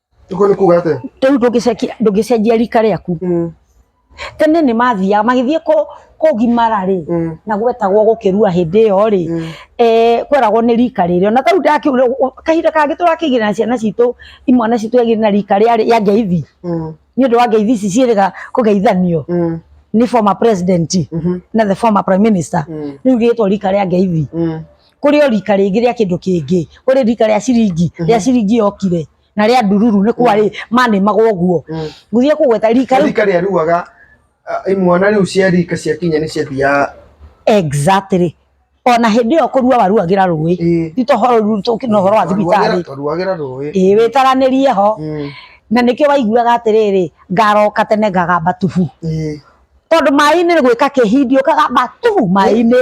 Iko ni kuga ate? Riu ndungicenjia ndungicenjia rika riaku. Mm. Tene ni mathiaga magithie ko kugimara ri Mm. na gwetagwo gukirua hindi iyo ri Mm. eh kweragwo ni rika riri ona tau ndaki kahinda kangi turakigira na ciana citu imwana citu yagire na rika ria ya ngeithi Mm. ni undu wa ngeithi ici ciiriga kugeithanio Mm. ni former president Mhm. na the former prime minister Mm. riu riitwo rika ria ngeithi Mm. kũrĩ o rika rĩngĩ rĩa kĩndũ kĩngĩ kũrĩ rika rĩa ciringi rĩa ciringi yokire na rĩa ndururu nĩ kwarĩ manĩmagwo ũguo Mm. gũthiĩ kũgweta rika rĩu rika rĩa ruaga ah, imwana rĩu cia rika cia kinya nĩ ciathiaga exactly ona hĩndĩ ĩyo kũrua waruagĩra rũĩ Ĩĩ. ti tohoro ruru tũkĩ na ũhoro wa thibitarĩ twaruagĩra rũĩ ĩĩ wĩtaranĩrie ho Mm. na nĩkĩo waiguaga atĩrĩrĩ ngaroka tene ngagamba tubu Ĩĩ. tondũ maĩ-inĩ nĩ gwĩka kĩhindi ũkagamba tubu maĩ-inĩ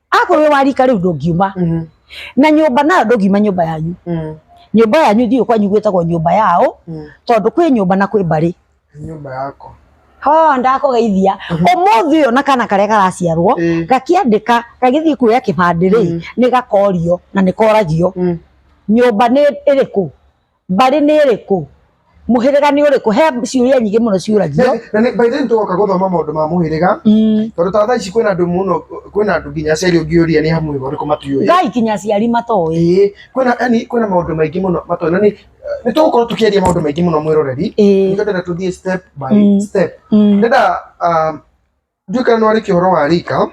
akorwo wĩ wa rika rĩu ndũngiuma Mhm. na nyũmba nayo ndũngiuma nyũmba yanyu Mm. nyũmba yanyu ithiĩ kwanyu gwĩtagwo nyũmba yao Mm. tondũ kwĩ nyũmba na kwĩ mbarĩ nyũmba yako ho ndakũgeithia ũmũthĩ ũyũ na kana karĩa karaciarwo Mm. gakĩandĩka gagĩthiĩ kuoya kĩbandĩ rĩ nĩ gakorio na nĩ koragio Mm. nyũmba nĩ ĩrĩkũ mbarĩ nĩ ĩrĩkũ mũhĩrĩga nĩ ũrĩkũ he ciũria nyingĩ mũno ciũragio na nĩ by the way nĩtũgoka gũthoma maũndũ ma mũhĩrĩga Mm. tondũ ta thaa ici kwĩna andũ mũno kwĩna andũ nginya aciari ũngĩũria nĩ hamwe ũrĩkũ matiũĩ ngai kinya aciari matoĩ ĩĩ kwĩna yani kwĩna maũndũ maingĩ mũno matoĩ na nĩ nĩtũgũkorwo tũkĩaria maũndũ maingĩ mũno mwĩroreri Ĩĩ. nĩkendera tũthiĩ step by Mm. step Mm. ndenda um, Ndiũĩ kana no arĩkie ũhoro wa rika.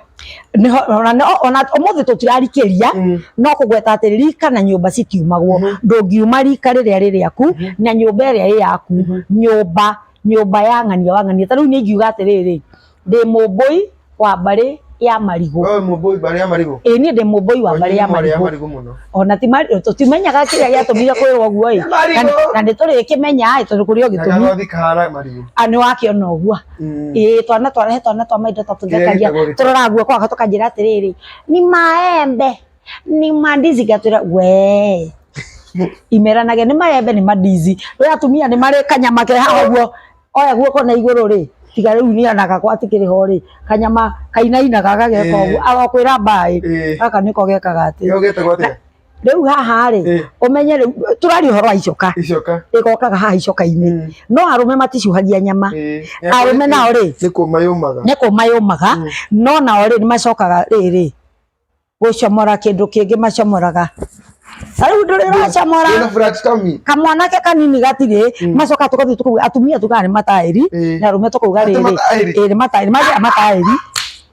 Nĩho- ona no- ona ũmũthĩ tũtirarikĩria Mm. no kũgweta atĩ rika na nyũmba citiumagwo Mhm. ndũngiuma rika rĩrĩa rĩ rĩaku na nyũmba ĩrĩa ĩ yaku Mhm. nyũmba nyũmba ya ng'ania wa ng'ania ta rĩu nĩ ingiuga atĩrĩrĩ ndĩ mũmbũi wa mbarĩ ya marigũ Wewe mũmbũi mbarĩ ya marigũ. ĩ niĩ ndĩ mũmbũi wa mbarĩ ya Mbarĩ ya marigũ marigũ mũno. ona ti mari- tũtimenyaga kĩrĩa gĩatũmire kwĩrwo ũguo ĩ Marigũ. Na- na nĩ tũrĩkĩmenya ĩ tondũ kũrĩ o Na gĩtũmi gagothi kahana marigũ. a nĩ wakĩona ũguo Mm. Ĩĩ twana twarehe twana twa maitũ ta tũthekagia Kĩrĩa gĩtagwo- tũroraga guoko wako tũkanjĩra atĩrĩrĩ ni maembe ni mandizi ngatwĩra we imeranagia nĩ maembe nĩ mandizi rä atumia nĩ marĩ kanyama ke haha guo oya guoko na igũrũ rĩ tiga rĩu nĩ anaga kwa atikĩrĩ ho rĩ kanyama kainainaga gageka ũguo arokwĩra mbaĩ Ĩĩ. gaka nĩko gekaga atĩ Kĩo gĩtagwo atĩa? rĩu haha rĩ Eh. ũmenye rĩu tũraria ũhoro wa icoka icoka rĩgokaga haha icoka-inĩ Mm. no arũme maticuhagia nyama Eh, arũme nao rĩ nĩ kũma yũmaga nĩ kũma yũmaga Mm. no nao rĩ nĩmacokaga rĩrĩ gũcomora kĩndũ kĩngĩ macomoraga Ta rĩu ndũrĩ Wĩna ũracomora flat tummy. kamwanake kanini gatirĩ Mm. macoka tũgathiĩ tũkauga atumia tugaga nĩ mataĩri Eh. na arũme tũkauga Atĩ rĩrĩ mataĩri. ĩrĩ mataĩri magĩa mataĩri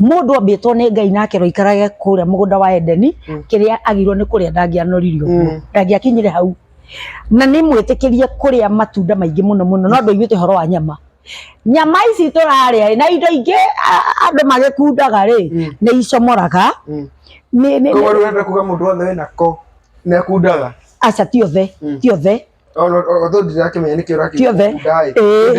Mũndũ ombĩtwo nĩ Ngai na akero ikarage kũrĩa mũgũnda wa Edeni, Mm. kĩrĩa agĩrĩirwo nĩ kũrĩa ndangĩanoririo ũguo. Mm. Ndangĩakinyire hau. Na nĩ mwĩtĩkĩrie kũrĩa matunda maingĩ mũno mũno no ndũiguĩte ũhoro wa nyama. Nyama ici tũrarĩa rĩ, na indo ingĩ a- andũ magĩkundaga rĩ, Mm. nĩ icomoraga. Mm. Nĩ- nĩ- Koguo nĩ- rĩu ũrenda kuga mũndũ wothe wĩna ko nĩ akundaga? aca ti othe Mm. ti othe kĩothe ĩĩ.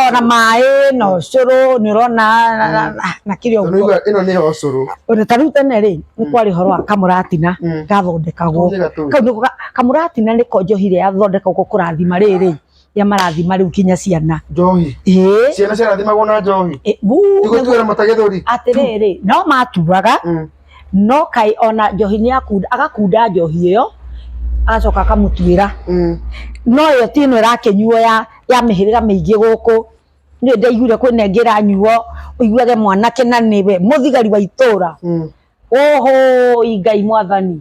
ona maĩ no cũrũ nĩ ũrona na- na- na- na kĩrĩa ũguo ĩno nĩ ho cũrũ Ona ta rĩu tene rĩ nĩ kwarĩ ũhoro wa kamũratina Mm. gathondekagwo Tũhũthĩra tũĩ. kau nĩko ga- kamũratina nĩko njohi ĩrĩa yathondekagwo kũrathima rĩrĩ ya marathima rĩu kinya ciana njohi ĩĩ ciana ciarathimagwo na njohi ĩ- buu, tigũtuĩra mata gĩthũri atĩrĩrĩ no matuaga Mm. no kaĩ ona njohi nĩ akunda agakunda njohi ĩyo agacoka akamũtuĩra Mm. no ĩyo ti ĩno ĩrakĩnyuo ya ya mĩhĩrĩga mĩingĩ gũkũ nĩ ndaiguire kwĩna ĩngĩ ĩranyuo ũiguage mwanake na nĩwe mũthigari wa itũũra Mm. ũhũi ngai mwathani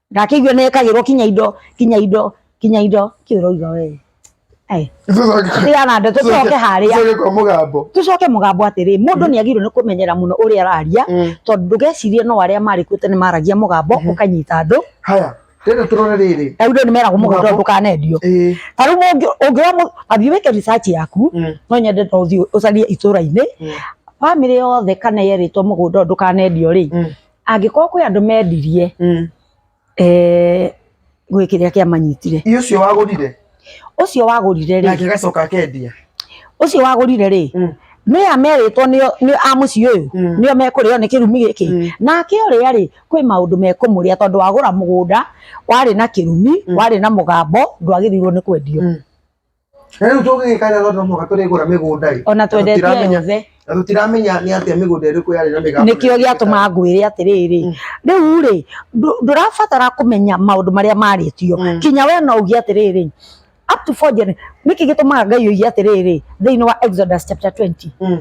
ndakĩigua nĩ ekagĩrwo kinya indo kinya indo kinya indo kĩ ũrauga we Ai, ria na ndeto tũcoke harĩa Tucoke kwa mũgambo. tũcoke mũgambo atĩrĩ mũndũ nĩ agĩrĩirwo nĩ kũmenyera mũno ũrĩa araria Mm. tondũ ndũgecirie no arĩa marĩkuo tene maragia mũgambo ũkanyita andũ Haya, rĩrĩ tũrore rĩrĩ. na indo nĩ meragwo mũgambo Mũgambo. ndũkanendio Ĩĩ. ta rĩu mũngĩ- ũngĩoya mũ- athiĩ wĩke research yaku Mm. no nyende no ũthiĩ ũcarie itũra-inĩ Mm. bamĩrĩ yothe kana yerĩtwo mũgũnda ũyũ ndũkanendio rĩ Mm. angĩkorwo kwĩ andũ mendirie Mm. eh, gwĩ kĩrĩa kĩamanyitire Iyo ũcio wagũrire ũcio wagũrire rĩ nake gacoka akendia. ũcio wagũrire rĩ Mm. nĩ ameritwo nĩo nĩo a mũciĩ ũyũ Mm. nĩo mekũrĩo nĩ kĩrumi Mm. gĩkĩ nake ũrĩa rĩ kwĩ maũndũ mekũmũrĩa tondũ wagũra mũgũnda warĩ na kĩrumi Mm. warĩ na mũgambo ndwagĩrĩirwo nĩ kwendio Mm. Rĩu tũgĩgĩka rĩrĩa no mũhaka tũrĩgũra mĩgũnda ĩ. Ona twendetie Tũtiramenya- yothe. Na tũtiramenya nĩ atĩa mĩgũnda ĩrĩkũ yarĩ na mĩgambo. nĩkĩo gĩatũma ngwĩre atĩrĩrĩ rĩu rĩ ndũ- ndũrabatara kũmenya maũndũ marĩa marĩtio Mm. kinya we no uge atĩrĩrĩ up to four gener- nĩkĩ gĩtũmaga ngai oige atĩrĩrĩ thĩinĩ wa exodus chapter 20 Mm.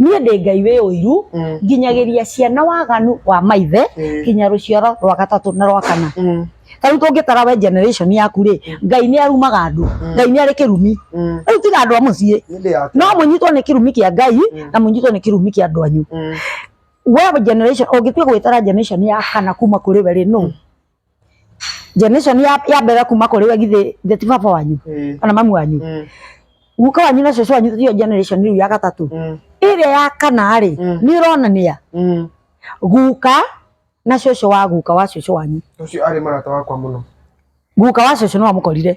niĩ ndĩ ngai wĩ ũiru Mm. nginyagĩria ciana waganu wa maithe Eh. nginya rũciaro rwa gatatũ na rwa kana Mm. ta rĩu tũngĩtara we generation yaku rĩ ngai nĩ arumaga andũ ngai nĩ arĩ kĩrumi Mm. rĩu tiga andũ a mũciĩ Nĩndĩ yake. no mũnyitwo nĩ kĩrumi kĩa ngai na mũnyitwo nĩ kĩrumi kĩa andũ anyu Mm. we generation ũngĩtua gwĩtara generation ya kana kuma kũrĩ we rĩ no generation ya ya mbere kuma kũrĩ we githĩ githĩ ti baba wanyu Mm. kana mamu wanyu Mm. guka wanyu na cũcũ wanyu tiyo generation rĩu ya gatatũ Mm. ĩrĩa ya kana rĩ Mm. nĩ ĩronania Mm. guka na cũcũ wa guka wa cũcũ wanyu Ũcio arĩ mũrata wakwa mũno. guka wa cũcũ nĩwamũkorire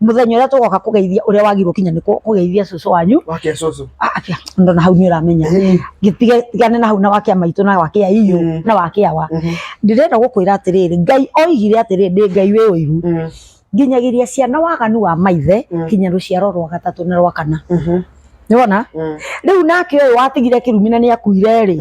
muthenya uria tugoka kugeithia uria wagirwo kinya niko kugeithia cucu wanyu wake cucu ah, akia ndo na hau ni uramenya eh. gitige tigane na hau na wakia maitu na wakia iyo mm. na wakia wa mhm. ndirenda gukwira atiriri ngai oigire atiriri ndi ngai we uiru mm. nginyagiria ciana waganu wa maithe mm. kinya ruciaro rwa gatatu na rwa kana mhm. ni wona riu nake uyu watigire kirumina ni akuire ri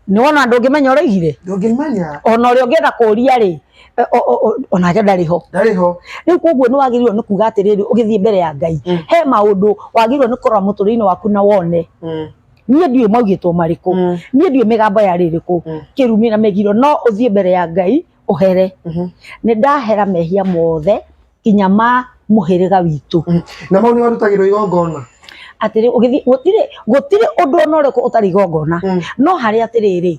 ni wona ndungimenya uraigire ndungimenya ona uria ungienda kuria ri Eh, o- o- o- onake ndarĩ ho ndarĩ ho rĩu koguo nĩ wagĩrĩirwo nĩ kuga atĩrĩrĩ ũgĩthiĩ mbere ya ngai Mm. he maũndũ wagĩrĩirwo nĩ kũrora mũtũrĩre-inĩ waku na wone Mm, niĩ ndiũĩ maugĩtwo marĩkũ mm, niĩ ndiũĩ mĩgambo ya rĩrĩkũ Mm. kĩrumi na mĩgiro no ũthiĩ mbere ya ngai ũhere mhm. nĩ ndahera mehia mothe nginya ma mũhĩrĩga witũ Mm. na mau nĩ warutagĩrwo igongona atĩrĩ ũgĩthiĩ gũtirĩ gũtirĩ ũndũ ona ũrĩkũ ũtarĩ igongona Mm. no harĩ atĩrĩrĩ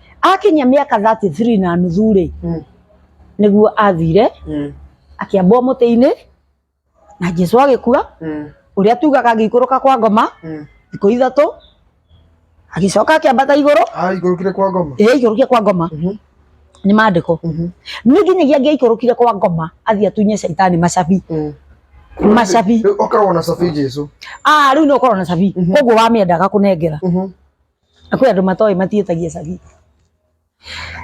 akinyia mĩaka 33 na nuthu rĩ Mm. nĩguo athire Mm. akĩambwo mũtĩ-inĩ na jesu agĩkua Mm. ũrĩa tugaga agĩikũrũka kwa ngoma Mm. thikũ ithatũ agĩcoka akĩambata igũrũ Ah, igũrũkire kwa ngoma. ĩrĩa aikũrũkia kwa ngoma Mhm. nĩ mandĩko Mhm. nĩ nginyagia angĩaikũrũkire kwa ngoma athiĩ atunye caitani macabi Mm. macabi Rĩu okoragwo na cabi Jesu. ah rĩu nĩ ũkorwo na cabi Mhm. koguo wamĩendaga kũnengera Mhm. Na kwĩ andũ matoĩ matiĩtagia cabi.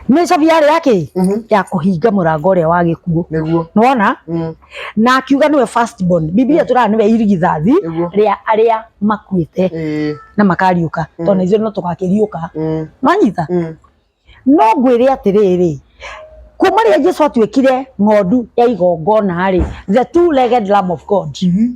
Nĩ cabi yarĩ ya kĩ? Mhm. Ya kũhinga mũrango ũrĩa wa gĩkuũ. Nĩguo. Nĩwona? Mm. Na akiuga nĩwe first born. Bibilia tũraga nĩwe irigithathi Nĩguo. rĩa arĩa makuĩte Ĩĩ. na makariũka. Tondũ na ithuĩ no tũgakĩriũka. Mm. Nĩwanyita? Mm. No ngwĩre atĩrĩrĩ, kuma rĩrĩa Jesu atuĩkire ng'ondu ya igongona-rĩ, the two-legged lamb of God, Mhm.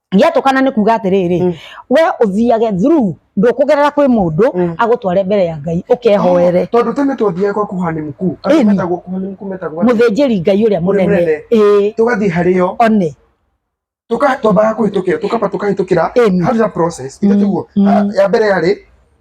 gĩatũkana nĩ kuga atĩrĩrĩ Mm. we ũthiage through ndũkũgerera kwĩ mũndũ Mm. agũtware mbere ya ngai ũkehoere tondå tene twathiaga kwa kuhani mkuu Ĩni. andå metagwo kuhani mkuu metagwo mũthĩnjĩri ngai ũrĩa mũnene mũnene. ĩĩ tå gathiä harä yo one twambaga kå hä tå kä ra tå kamba tå kahä tå kä ra Ĩni. hau process Mm, itatigwo mm. ya mbere yarä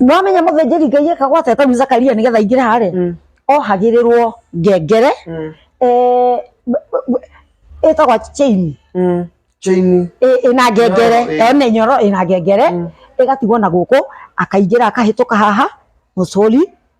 nĩwamenya mũthĩnjĩri ngai eka gwata tarĩu zakaria nĩgetha aingĩre harĩ Mm. ohagĩrĩrwo ngengere Mm. eh, b- b- b- ĩtagwa chain Mm. Chain. ĩ- ĩna ngengere Nyororo, ĩ. ĩyo nĩ nyoro ĩna ngengere Mm. ĩgatigwo na gũkũ akaingĩra akahĩtũka haha mũcũri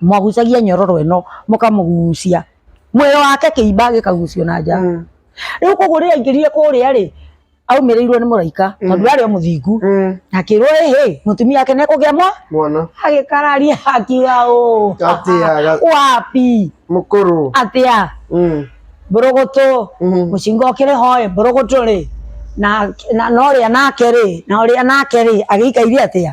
mwagucagia nyororo ĩno mũkamũgucia mwĩrĩ wake kĩimba gĩkagucio na nja Mm. rĩu koguo rĩrĩa aingĩrire kũrĩa rĩ aumĩrĩirwo nĩ mũraika tondũ arĩ o mũthingu Mm. akĩrwo ĩhĩ mũtumia wake nekũgĩa mwa Mwana. agĩkararia akiuga ũũ Atĩa. wapi Mũkũrũ. atĩa Mm. mbũrũgũtũ Mhm. mũcinga ũkĩrĩ hoe mbũrũgũtũ rĩ na na- na ũrĩa nake rĩ na ũrĩa nake rĩ agĩikaire atĩa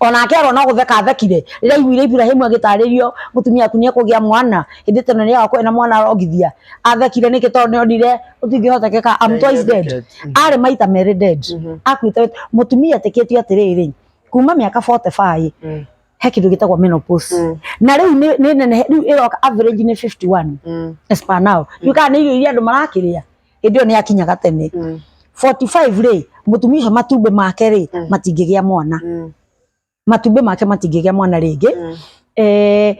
onake arwo no gutheka athekire rĩrĩa aiguire Iburahimu agĩtarĩrio mũtumia waku nĩekũgĩa mwana hĩndĩ ĩyo tene nĩagakorwo ena mwana arongithia athekire nĩkĩ tondũ nĩonire gũtingĩhotekeka I'm twice dead arĩ maita merĩ dead akuĩte wĩta- mũtumia etĩkĩtio atĩrĩrĩ kuma mĩaka 45 Mm. he kĩndũ gĩtagwo menopause Mm. na rĩu nĩ nĩ nenehe rĩu ĩroka average nĩ 51 Mm. as per now rĩu kana nĩ irio iria andũ marakĩrĩa hĩndĩ ĩyo nĩ akinyaga tene Mm. 45 rĩ mũtumia ũcio matumbĩ make rĩ Mm. matingĩgĩa mwana Mm. matumbĩ make matingĩgĩa mwana rĩngĩ Mm. eh,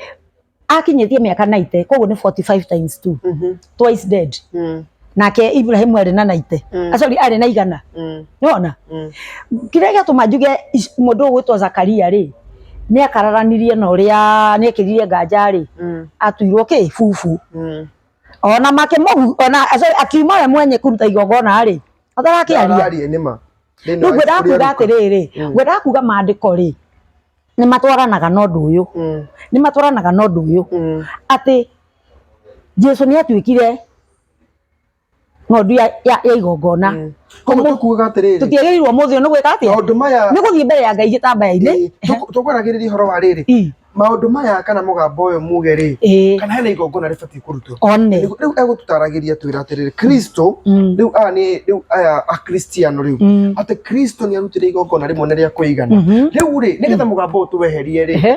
akinyĩtie mĩaka 90 koguo nĩ 45 times 2 Mhm. twice dead Mm. nake Ibrahim arĩ na 90 Mm. Ah, sorry arĩ na igana Mm. nĩwona Mm. kĩrĩa gĩatũma njuge ic- mũndũ ũyũ gwĩtwo Zakaria rĩ nĩ akararanirie na ũrĩa nĩekĩrire nganja rĩ Mm. atuirwo kĩ bubu Mm. ona makĩmũhu ona sorry, akiuma we mwenye kũruta igongona rĩ atarakĩaria Araria nĩ ma. Thĩinĩ rĩu wa ngwendaga ibuku rĩa kuga Luka. atĩrĩrĩ Mm. ngwendaga kuga maandĩko rĩ nĩ matwaranaga na ũndũ ũyũ Mm, nĩ matwaranaga na ũndũ ũyũ mm. atĩ jesu nĩ atuĩkire ng'ondu ya, ya, ya igongona mm. koguo tũkuuga atĩrĩrĩ tũtiagĩrĩirwo mũthĩ ũyũ nĩ gwĩka atĩa maũndũ maya nĩ gũthiĩ mbere ya ngai gĩtambaya-inĩ tũkwaragĩrĩria ũhoro wa rĩrĩ mm. maũndũ maya kana mũgambo ũyũ muge rĩ kana hena igongona rĩbatiĩ kũrutwo one rĩu egũtũtaragĩria twĩra atĩrĩrĩ kristo mm. rĩu aya nĩ rĩu aya akristiano rĩu mm. atĩ kristo nĩ arutire igongona rĩmwe nĩ rĩa kũigana mm-hmm. rĩu rĩ nĩgetha mũgambo ũyũ tũweherie rĩ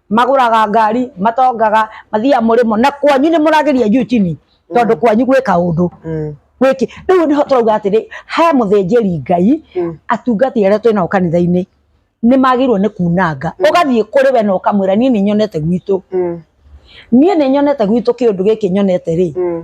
magũraga ngari matongaga mathiaga mũrĩmo na kwanyu nĩ mũrageria juu chini tondũ kwanyu gwĩka ũndũ Mm. gwĩki rĩu nĩho tũrauga atĩrĩ he mũthĩnjĩri ngai Mm. atungati arĩa twĩ nao kanitha-inĩ nĩ magĩrĩirwo nĩ kunanga ũgathiĩ kũrĩ we na ũkamwĩra niĩ nĩ nyonete gwitũ Mm. niĩ nĩ nyonete gwitũ kĩũndũ gĩkĩ nyonete rĩ Mm.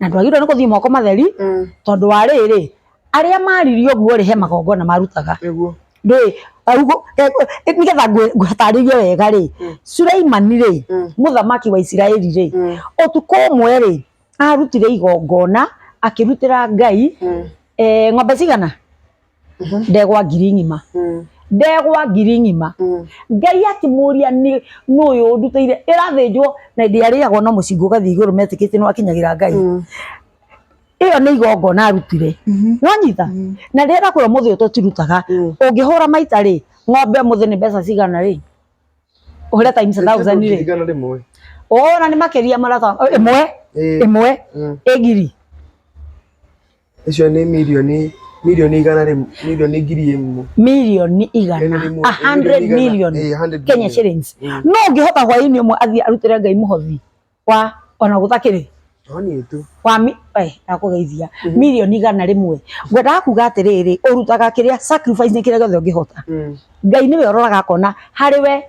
na ndwagĩrĩirwo nĩ gũthiĩ moko matheri Mm. tondũ wa rĩrĩ arĩa maririo guo rĩ he magongona marutaga Nĩguo. rĩ augo- eh, eh, nĩgetha ngwĩ- ngũtarĩrie wega rĩ suleimani rĩ Mm. mũthamaki wa isiraeli rĩ Mm. ũtukũ ũmwe rĩ arutire igongona akĩrutĩra ngai Mm. eh, ng'ombe cigana Mhm. ndegwa ngiri ng'ima Mm. ndegwa ngiri ng'ima Mm. ngai akĩmũria nĩ nũyũ ũnduteire ĩrathĩnjwo na ĩndĩ arĩagwo no mũcingo ũgathiĩ igũrũ metĩkĩtie nĩ wakinyagĩra ngai Mm. ĩyo nĩ igongona arutire Mhm. nonyita Mm. na rĩrĩa kũrĩa mũthĩ ũyũ tũtirutaga Mm. ũngĩhũra maita rĩ ng'ombe mũthĩ nĩ mbeca cigana rĩ ũhũre times a thousand rĩ Ndirikana rĩmwe. ona nĩ makĩria marata ĩmwe Ĩĩ. ĩmwe Mm. ĩgiri Icio nĩ mirioni mirioni igana rĩmwe mirioni ngiri ĩmwe mirioni igana Ĩmwe, a hundred mirioni million igana. Eh, 100 Kenya million. shillings Mm. no ũngĩhota hwaĩ-inĩ ũmwe athiĩ arutĩre Ngai mũhothi wa ona gũtakĩrĩ toni tu wa mi- eh, ndakũgeithia mirioni igana rĩmwe ngwendaga kuga atĩrĩrĩ ũrutaga kĩrĩa sacrifice nĩ kĩrĩa gĩothe ũngĩhota Mm. ngai nĩwe ũroraga akona harĩ we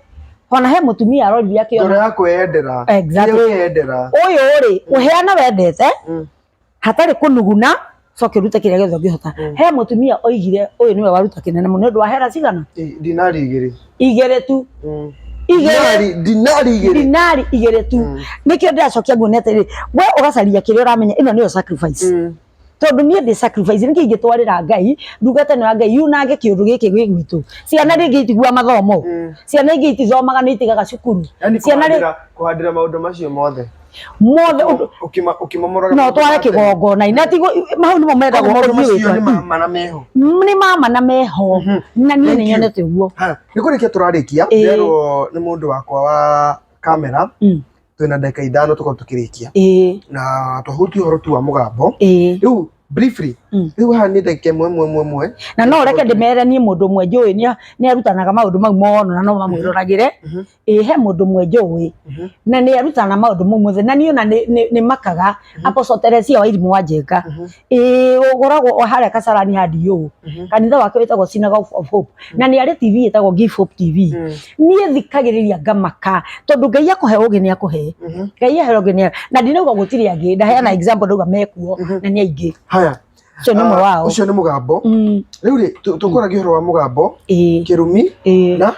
ona he mũtumia arorire ngoro akĩona yakwe yendera Exactly. Kĩrĩa weyendera ũyũ rĩ ũheana wendete Mm. hatarĩ kũnuguna coke rute kĩrĩa gĩothe ũngĩhota Mm. he mũtumia oigire ũyũ nĩwe waruta kĩnene mũno nĩ ũndũ wa hera cigana I- dinari igĩrĩ igĩrĩ tu Mm. igĩrĩ dinari dinari igĩrĩ dinari igĩrĩ tu Mm. nĩkĩo ndĩracokia nguo nete rĩ we ũgacaria kĩrĩa ũramenya ĩno nĩyo sacrifice Mm. tondũ niĩ ndĩ sacrifice nĩkĩ ingĩtwarĩra ngai ndungata ĩno ya ngai yunange kĩũndũ gĩkĩ gwĩ gwitũ ciana rĩngĩ itigua mathomo Mm. ciana ingĩ itithomaga nĩ itigaga cukuru yani ciana rĩ kuhandĩra kuhandĩra maũndũ macio mothe mothe ũndũ- Ũkĩma- ũkĩmamũraga no tware kĩgongona na ti mau nĩmo mendagwo maũndũ ũthiĩ macio nĩ wĩka. ma- mana meho nĩ mama na meho Mhm. na niĩ Thank nĩ you. nyonete ũguo Ha, nĩ kũrĩkia tũrarĩkia Ĩĩ. nderwo nĩ mũndũ wakwa wa kamera Mm. twĩna ndagĩka ithano tũkorwo tũkĩrĩkia ĩĩ na twahuti ũhoro tu wa mũgambo ĩĩ rĩu briefly Mm. rĩu haha nĩ ndagĩka ĩmwe ĩmwe ĩmwe ĩmwe na no reke ndĩmere niĩ mũndũ ũmwe njũĩ nĩ- nĩ arutanaga maũndũ mau mono na no mamwĩroragĩre Mhm. ĩ he mũndũ mwe njũĩ Mhm. na nĩ arutana maũndũ mau mothe na niĩ ona nĩ- nĩ nĩ makaga Apostle Teresia wa irimũ wa njenga Mhm. ĩ ũgoragwo o harĩa kacarani handi yũ Mhm. kanitha wake wĩtagwo Synagogue of Hope na nĩ arĩ TV ĩtagwo Give Hope TV Mm. niĩ thikagĩrĩria ngamaka tondũ ngai akũhe ũgĩ nĩ akũhe Mhm. ngai ahe ũgĩ nĩ na ndinauga gũtirĩ angĩ ndaheana example ndauga mekuo Mhm. na nĩ aingĩ haya ũcio nĩ ũmwe Ah, wao ũcio nĩ mũgambo Mm, rĩu rĩ tũ- tũkũragia ũhoro wa mũgambo ĩ kĩrumi ĩ na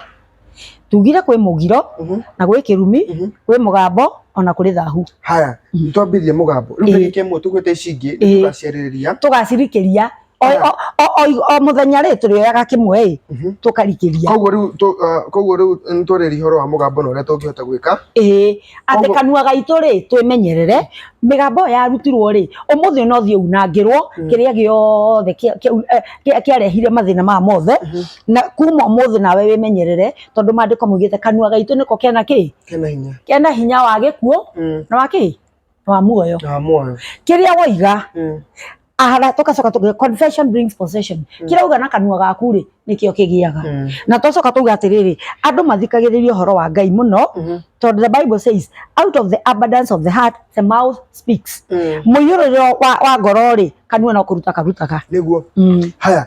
tugire kwĩ mũgiro Mhm. na gwĩ kĩrumi Mhm. gwĩ mũgambo ona kũrĩ thahu haya Mhm. nĩtwambĩrĩrie mũgambo rĩu Ĩĩ. tarĩki ĩmwe tũgwĩte ici ingĩ Ĩĩ. nĩtũgaciarĩrĩria tũgacirikĩria o, Aya. o, o, o, o mũthenya rĩ tũrĩoyaga kĩmwe ĩ Mhm. tũkarikĩria koguo rĩu tũ- ah, koguo rĩu nĩtwarĩria ũhoro wa mũgambo na ũrĩa tũngĩhota gwĩka ĩĩ atĩ Koguo- kanua gaitũ rĩ twĩmenyerere mĩgambo ĩyo yarutirwo rĩ ũmũthĩ ona ũthiĩ unangĩrwo Mm. kĩrĩa gĩothe kĩa- kĩa- eh, kĩa- kĩarehire mathĩna maya mothe Mhm. na kuma ũmũthĩ nawe wĩmenyerere tondũ maandĩko maugĩte kanua gaitũ nĩko kena kĩ kena hinya kena hinya wa gĩkuũ mm. na wa kĩ na wa muoyo na muoyo kĩrĩa woiga mm. ahara tugacoka tuge confession brings possession mm. kĩrĩa uga na kanua gaku rĩ nĩkĩo kĩgĩaga mm. na twacoka tuga atĩrĩrĩ andũ mathikagĩrĩria ũhoro wa ngai mũno mm -hmm. tondũ the bible says out of the abundance of the heart the mouth speaks mm. mũiyũrĩrĩro wa, wa ngoro rĩ kanua no kũruta karutaga nĩguo mm. haya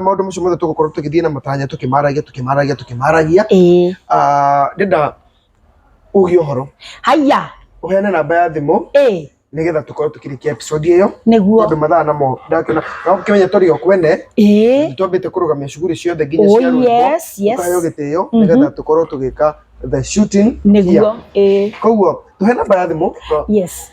maundu macio mothe tugukorwo tugithie na matanya tukimaragia tukimaragia tukimaragia ndenda ugie uhoro haya uheane namba ya thimu eh nigetha tukorwo tukirikia episode iyo niguo tondu mathaa namo ndakena no kimenya turi o kwene eh twambite kurugamia shughuli ciothe nginya cia ruo yes yes kayo gitio nigetha tukorwo tugika the shooting niguo eh koguo tuhe namba ya thimu yes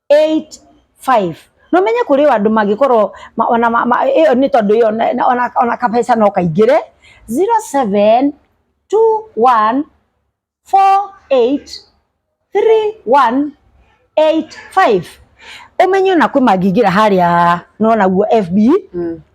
8:05 na ũmenye kũrĩ o andũ mangĩkorwo ma- ona ma- ma- ĩyo nĩ tondũ ĩyo na- na- ona- ona kabeca no kaingĩre 0721483185 ũmenye ona kwĩ mangĩingĩra harĩa nona guo FB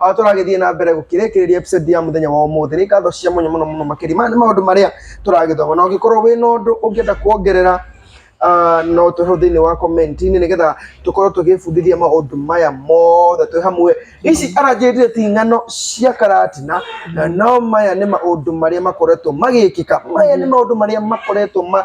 Ah, tũragĩthiĩ na mbere gũkĩrĩkĩrĩria episode ya mũthenya wa ũmũthĩ nĩ ngatho cia mũnyo mũno mũno makĩria maya nĩ maũndũ marĩa tũragĩthoma na ũngĩkorwo wĩ na ũndũ ũngĩenda kuongerera ah, no tũhe thĩinĩ wa komenti-inĩ nĩgetha tũkorwo tũgĩbundithia maũndũ maya mothe twĩ hamwe ici aranjĩrire ti ng'ano cia karatina na no maya nĩ maũndũ marĩa makoretwo magĩkĩka maya nĩ maũndũ marĩa makoretwo ma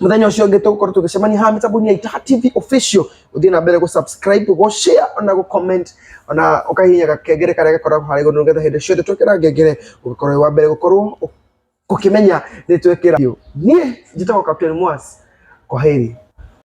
muthenya ucio ungi tugukorwo tugicemania haha mitambo ya itaha tv official uthie na mbere gu subscribe gu share ona gu comment ona ukahihinya gakengere karia gakoragwo harä iguru nigetha hindi ciothe twekira ngengere ugikorwo wa mbere gukorwo ukimenya ni twekira nie njitagwo captain mwas kwa heri